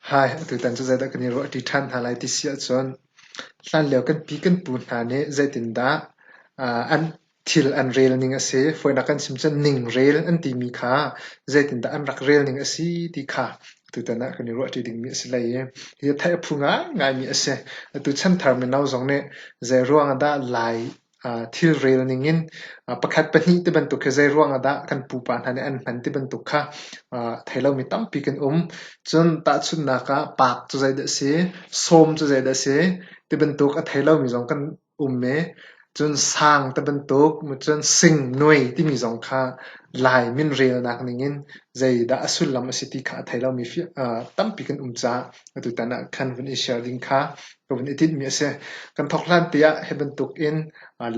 Hi, tutan cu zeidah kan i ruah ṭi ṭhan hna lai ti si ahcun, hlanlio kan pi kan pu hna nih zeitindah an Thil an rel ning a si. Fawinak kan chim cun ningrel an timi kha zeitindah an rak rel ning a si ti kha tutan ah kan i ruahṭi dingmi a si hlei i hi a theih a phu ngaingaimi a si. Atu chan thar mino zong nih zeiruang ah dah Lai thilrel ning in pakhat pahnih ti bantuk hi zeiruang ah dah kan pupa hna nih an hman ti bantuk kha thei lomi tampi kan um. Cun tahchunhnak ah paak cu zeidah a si, sawm cu zeidah a si ti bantuk a thei lomi zong kan um ee cun sang ti bantuk cun singnuai timi zong kha Lai min relnak ningin zeidah a sullam a si ti kha a thei lomi tampi kan um caah atutan ah khan vun i share ding kha ka vun i tinhmi a si. Kan thawk hlante ah hi bantukin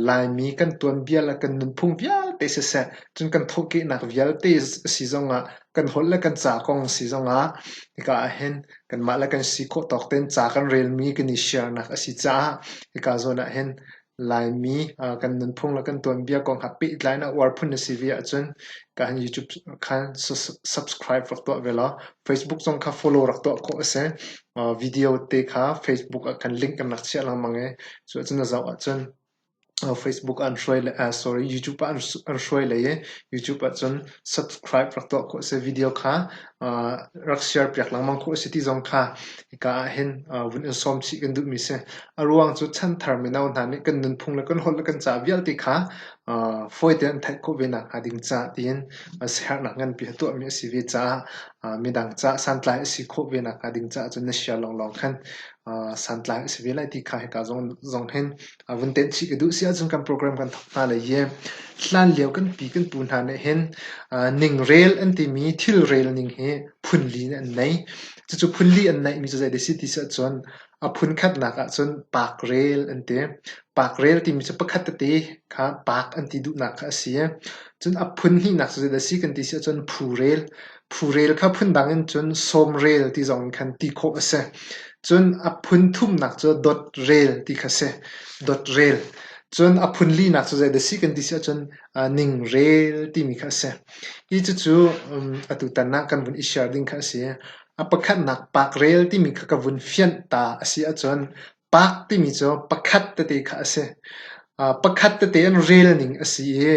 Laimi kan tuanbia le kan nunphung vialte siseh cun kan thawhkehnak vialte a si zongah kan holh le kan ca kong a si zongah hika ah hin kanmah le kan si khawh tawk tein ca kan relmi kan i siarnak a si caah hika zawn ah hin Laimi kan nunphung le kan tuanbia kong ha pehtlai in a uar phun na si ve ahcun ka han YouTube khan subscribe rak tuah ve law Facebook zong kha follow rak tuah khawh a si. Video te kha Facebook ah khan link kan rak chiah lengmang i cu ahcun na zoh ahcun Facebook ah an hruai le YouTube ah an hruai lei i YouTube ahcun subscribe rak tuah khawh a si. Video kha rak share piak lengmang khawh a si ti zong kha hika ah hin vun in sawm chih kan duhmi si. A ruang cu chanthar mino hna nih kan nunphung le kan holh le kan ca vialte kha fawi tein an theih khawh ve nakhnga ding caah tiin siaherhnak nganpi a tuahmi a si ve caah midang caah santlai a si khawh ve nakhnga ding caah cun na share lawnglawng khan santlai a si ve lai ti kha hika zong hin vun tenh chih ka duh si ahcun kan program kan thawk hna lai i hlan lio kan pi kan pu hna nih hin ningrel an timi thilrel ning hi phunli nih an nei cucu phunli an neihmi cu zeidah si ti si ahcun a phun khatnak ahcun parkrel an ti parkrel timi cu pakhat tete kha park an ti duhnak kha a si cun a phun hnihnak cu zeidah si kan ti si ahcun phurel Phu-rel kha phundang in cun sawm-rel ti zong in khan ti khawh a si. Cun a phun thumnak cu dot-rel ti kha a si. Dot-rel. Cun a phun linak cu zei dah a si kan ti si ahcun uh, ning-rel timi kha a si. Hi cucu um, atu tan ah kan vun i share ding kha a si. A pakhatnak pak-rel timi kha ka vun fianh ta a si ahcun Pah timi cu pakhat tete kha a si. Uh, pakhat tete in relning a si i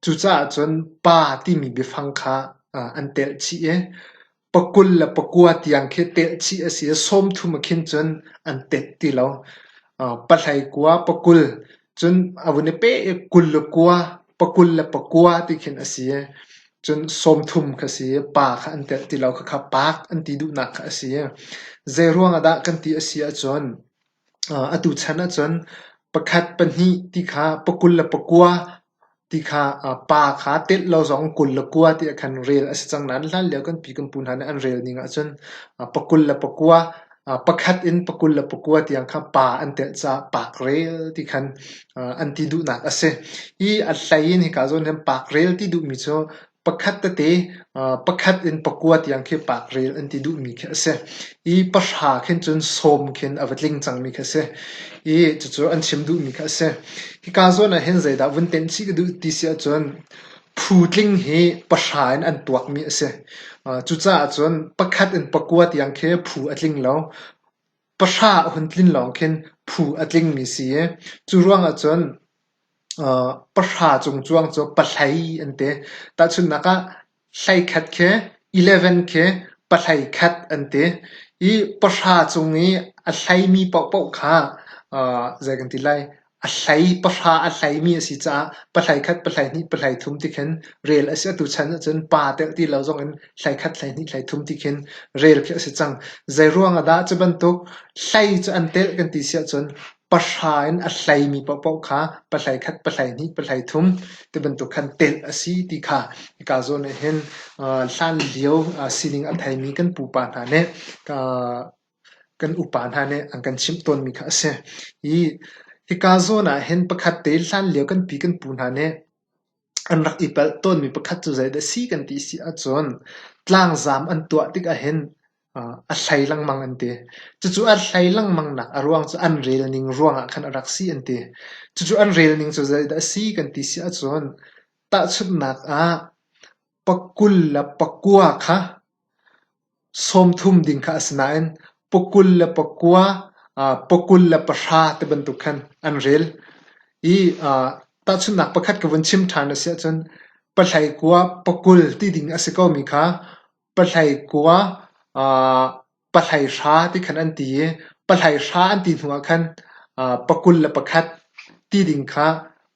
cucaah cun pa timi biafang kha uh, an telh chih i pakul le pakua tiang khi telh chih a si i sawmthum ah khin cun an telh ti lo. Uh, Pathlaikua pakul Cun a vun i peh i kul le kua, pakul le pakua ti khin a si i cun sawmthum kha a si i pa kha an telh ti lo khakha paak an ti duhnak kha a si i zeiruang ah dah kan ti a si ahcun atu chan ahcun pakhat, pahnih ti kha pakul le pakua Ti kha pa kha telh lo zong kul le kua tiah khan rel a si cang nain hlanlio kan pi kan pu hna nih an rel ning ahcun pakul le pakua pakhat in pakul le pakua tiang kha pa an telh caah pakrel ti khan an ti duhnak a si. Hi a hlei in hika zawn hin pakrel ti duhmi cu pakhat tete pakhat in pakua tiang khi pak rel an ti duhmi khi a si i pahra khin cun sawm khin a va tling cangmi khi a si i cucu an chim duhmi khi a si hika zawn ah hin zeidah vun tenh chih ka duh ti si ahcun phu tling hi pahra in an tuakmi a si cucaah cun pakhat in pakua tiang khi phu a tling lo Pahra a hun tlin lawng khin phu a tlingmi si i cu ruangah cun pahra cung cuang cu pahlei an ti. Tahchunhnak ah hlei khat khi eleven khi pahlei khat an ti i pahra cung i a hleimi paohpaoh kha zei kan ti lai A hlei pahra a hleimi a si caah pahlei khat, pahlei hnih, pahlei thum ti khin rel a si. Atu chan ahcun pa deuh ti lo zong in hlei khat, hlei hnih, hlei thum ti khin rel khi a si cang. Zeiruang ahdah? Cu bantuk hlei cu an telh kan ti si ahcun pahra in a hleimi paohpaoh kha pahlei khat, pahlei hnih, pahlei thum ti bantuk khan telh a si ti kha hika zawn ah hin hlan lio sining a theimi kan pupa hna nih Kan upa hna nih an kan chimh tawnmi kha a si. Hi hika zawn ah hin pakhat te hlanlio kan pi kan pu hna nih an rak i palh tawnmi pakhat cu zeidah a si kan ti a si ahcun tlangzaam an tuah tikah hin a hlei lengmang an ti. Cucu a hlei lengmangnak a ruang cu an relning ruangah khan a rak si an ti. Cucu an relning cu zeidah a si kan ti si ahcun tahchunhnak ah pakul le pakua kha sawmthum ding kha a si nain pakul le pakua, pakul le pahra ti bantuk khan an rel. I tahchunhnak pakhat ka vun chim ṭhan a si ahcun pathlaikua pakul ti ding a si komi kha pathlaikua pathlaihra ti khan an ti i pathlaihra an ti hnuah khan pakul le pakhat ti ding kha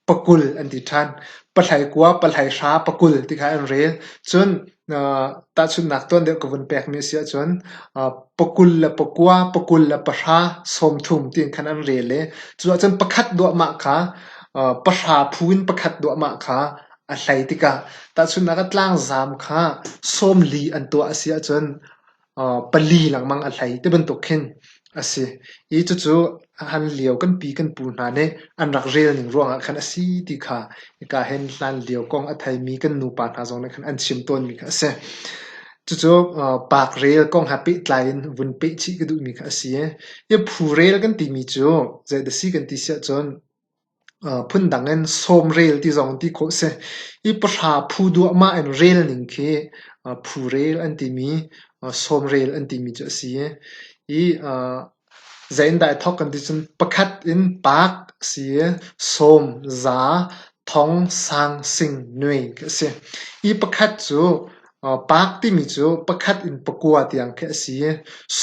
pakul an ti ṭhan. Pahlei kua, pahlei hra, pakul ti kha an rel. Cun tahchunhnak tuan deuh ka vun pekmi a si ahcun pakul le pakua, pakul le pahra, sawmthum ti in khan an rel i cu ahcun pakhat duahmah kha, pahra phu in pakhat duahmah kha a hlei tikah tahchunhnak ah tlangzaam kha sawmli an tuah a si ahcun pali lengmang a hlei ti bantuk khin a si i cucu hlan lio kan pi kan pu hna nih an rak relning ruangah khan a si ti kha hika hin hlan lio kong a theimi kan nupa hna zong nih khan an chim tawnmi kha a si. Cucu parkrel kong he pehtlai in vun peh chih ka duhmi kha a si i phu rel kan timi cu zeidah a si kan ti siahcun Phundang in sawm rel ti zong ti khawh a si. I pahra phu duahmah in rel ning khi phu rel an timi, sawm rel an timi cu a si. I zei in dah i thawk kan ti cun pakhat in paak a si i sawm, za, thong, sang, sing, nui khi a si. I pakhat cu Paak timi cu pakhat in pakua tiang khi a si i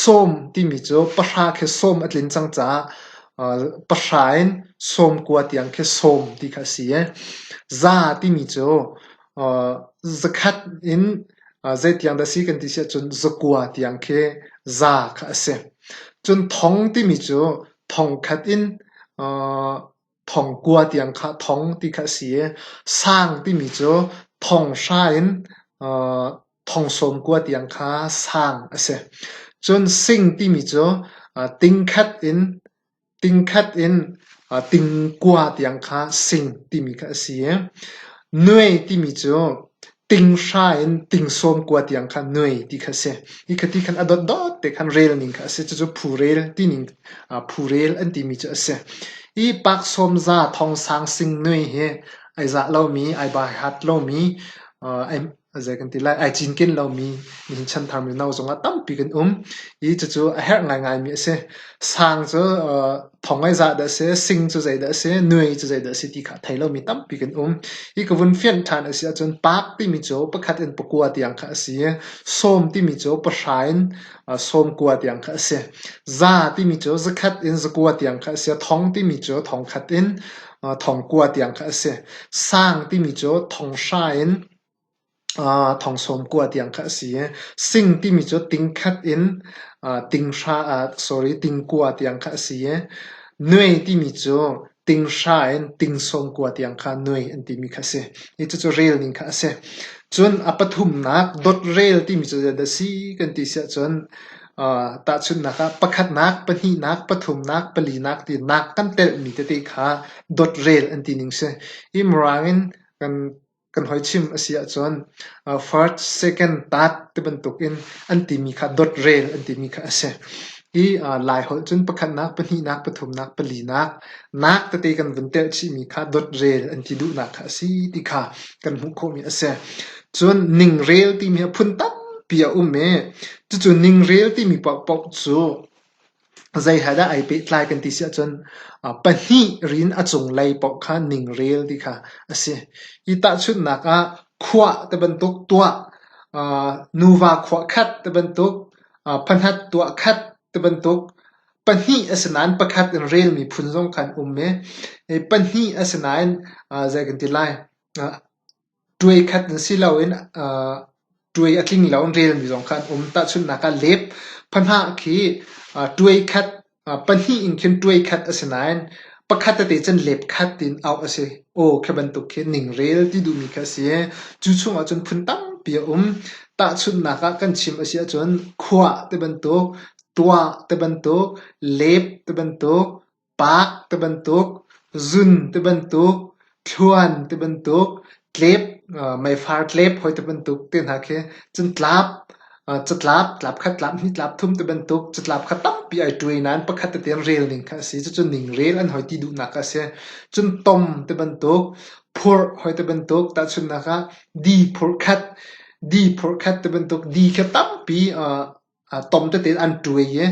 sawm timi cu pahra khi sawm a tlin cang caah pahra in sawm kua tiang khi sawm ti kha a si i za timi cu zakhat in zeitiang dah a si kan ti si ahcun zakua tiang khi za kha a si. Cun thong timi cu thong khat in thongkua tiang kha thong ti kha a si i sang timi cu thong hra in thong sawm kua tiang kha sang a si. Cun sing timi cu tingkhat in tingkhat in tingkua tiang kha sing timi kha a si i nue timi cu Ting hra in ting sawm kua tiang kha nuai ti kha a si. Hi kha ti khan a dotdot te khan rel ning kha a si. Cucu phu-rel tining, ah phu-rel an timi cu a si. Hi pak sawm za thong sang sing nuai hi ai zah lomi, ai baihat lomi, uh, ai, zei kan ti lai, ai cinken lomi nihin chanthar mino zong ah tampi kan um. Hi cucu a herh ngaingaimi a si. Sang cu uh, thong ai zah dah a si, sing cu zeidah a si, nui cu zeidah a si ti kha thei lomi tampi kan um. Hi ka vun fianh ṭhan a si ahcun paak timi cu pakhat in pakua tiang kha a si i sawm timi cu pahra in uh, sawm kua tiang kha a si. Za timi cu zakhat in zakua tiang kha a si, thong timi cu thong khat in uh, thong kua tiang kha a si. Sang timi cu thong hra in Thongsawm kua tiang kha a si i sing timi cu tingkhat in tingkua tiang kha a si i nuei timi cu tinghra in tingsawm kua tiang kha nuei an timi kha a si i cucu rel ning kha a si. Cun a pathumnak dotrel timi cu zeidah a si kan ti siah cun tahchunhnak ah pakhatnak, pahnihnak, pathumnak, palinak ti nak kan telhmi tete kha dotrel an ti ning a si. Hi Mirang in kan kan hoi chim a si ahcun first, second, third tibantuk in an timi kha dothrel an timi kha a si. Hi Lai holh cun pakhatnak, pahnihnak, pathumnak, palinak, nak tete kan vun telh chihmi kha dothrel an ti duhnak kha a si ti kha kan hmuh khawhmi a si. Cun ningrel timi a phun tampi a um i cucu ningrel timi paohpaoh cu Zei he dah ai pehtlai kan ti si ahcun pahnih rin a cunglei paoh kha ningrel ti kha a si. Hi tahchunhnak ah khuah ti bantuk tuah, nuva khuah khat ti bantuk, pahnih tuah khat ti bantuk, pahnih asinain pakhat in relmi phun zong khan um i pahnih asinain zei kan ti lai Tuai khat in si loin tuai a tling lo in relmi zong kha an um. Tahchunhnak ah lep pahnih khi tuai khat pahnih in khin tuai khat a si nain pakhat tete cun lep khat in auh a si. Aw khi bantuk khi ningrel ti duhmi kha a si i cu chungah cun phun tampi a um. Tahchunhnak ah kan chim a si ahcun khua te bantuk, tua te bantuk, lep te bantuk, Paak tibantuk, zun tibantuk, thluan tibantuk, tlep, meifar tlep hawi tibantuk te hna khi cantlap, catlap, tlap khat, tlap hnih, tlap thum tibantuk catlap kha tampi ai ṭu i nain pakhat tete in rel ning kha a si. Cucu ningrel an hoi ti duhnak kha a si. Cun tom tibantuk, phurh hawi tibantuk tahchunhnak ah di phurh khat, di phurh khat tibantuk, di khi tampi tom tete an tuai i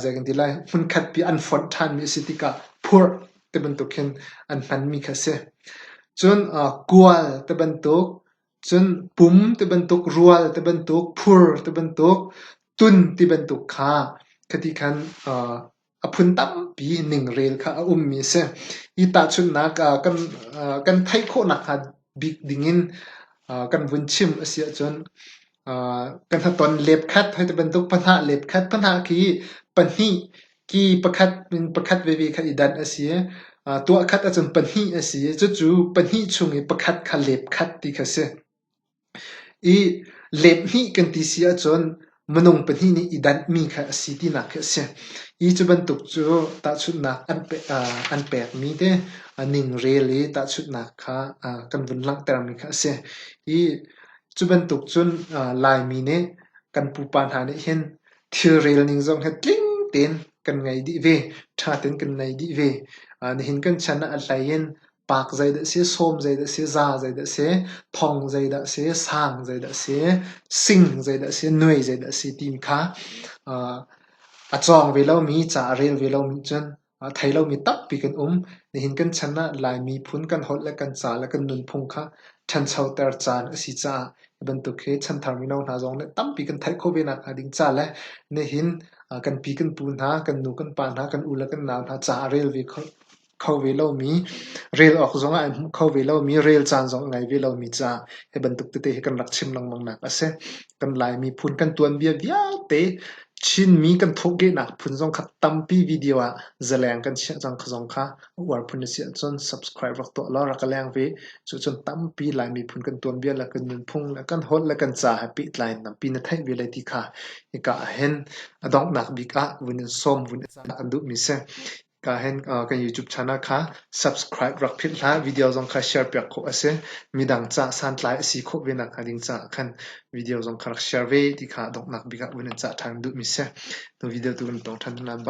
zei kan ti lai hmunkhat pi an fonh ṭhanmi a si tikah phurh ti bantuk hin an hmanmi kha a si. Cun kual ti bantuk, cun pum ti bantuk, rual ti bantuk, phur ti bantuk, tun ti bantuk kha khati khan A phun tampi ningrel kha a ummi a si. Hi tahchunhnak ah kan aa kan theih khawh nakhnga bik dingin aa kan vun chim a si ahcun aa kan hnaton lepkhat hoi ti bantuk pahnih lepkhat pahnih khi pahnih ki pakhat in pakhat veve kha i danh a si. Aa tuahkhat ahcun pahnih a si i cucu pahnih chung i pakhat kha lepkhat ti kha si. I lephnih kan ti si ahcun minung pahnih nih i danhmi kha a si tinak khi a si. Hi cu bantuk cu tahchunhnak an pe an pekmi te ningrel i tahchunhnak kha kan vun langhtermi kha a si. Hi cu bantuk cun Laimi nih kan pupa hna nih hin thilrel ning zong hi tling tein kan ngei dih ve, ṭha tein kan ngei dih ve. Nihin kan chan ah a hlei in Paak zeidah a si, sawm zeidah a si, za zeidah a si, thong zeidah a si, sang zeidah a si, sing zeidah a si, nuai zeidah a si timi kha uh, a cawng ve lomi, ca a rel ve lomi cun uh, thei lomi tampi kan um. Nihin kan chan ah Lai miphun kan holh le kan ca le kan nunphung kha ṭhanchoter caan a si caah hi bantuk hi chanthar mino hna zong nih tampi kan theih khawh ve nak hnga ding ca le nihin uh, kan pi kan pu hna, kan nu kan pa hna, kan u le kan nau hna ca a rel ve kho kho ve lomi, rel awk zong ah an hmuh kho ve lomi, rel caan zong a ngei ve lomi ca hi bantuk tete hi kan rak chim lengmang nak a si. Kan Lai miphun kan tuanbia vialte Chinmi kan thawhkehnak phun zong kha tampi video ah zaleng kan chiah cang kha zong kha a uar phun a si ahcun subscribe rak tuah law rak ka leng ve. Cucun tampi Lai miphun kan tuanbia le kan nunphung le kan holh le kan ca he pehtlai in tampi na theih ve lai ti kha hika ahhin a donghnak bik ah vun in sawm vun i cah an duhmi si. Kan YouTube channel kha subscribe rak philh hlah. Video zong kha share piak khawh a si. Midang caah santlai a si khawh ve nakhnga ding caah khan video zong kha rak share ve ti kha donghnak bik ah vun in cah ṭhan duhmi si. Nu video tu vun tong ṭhan hna.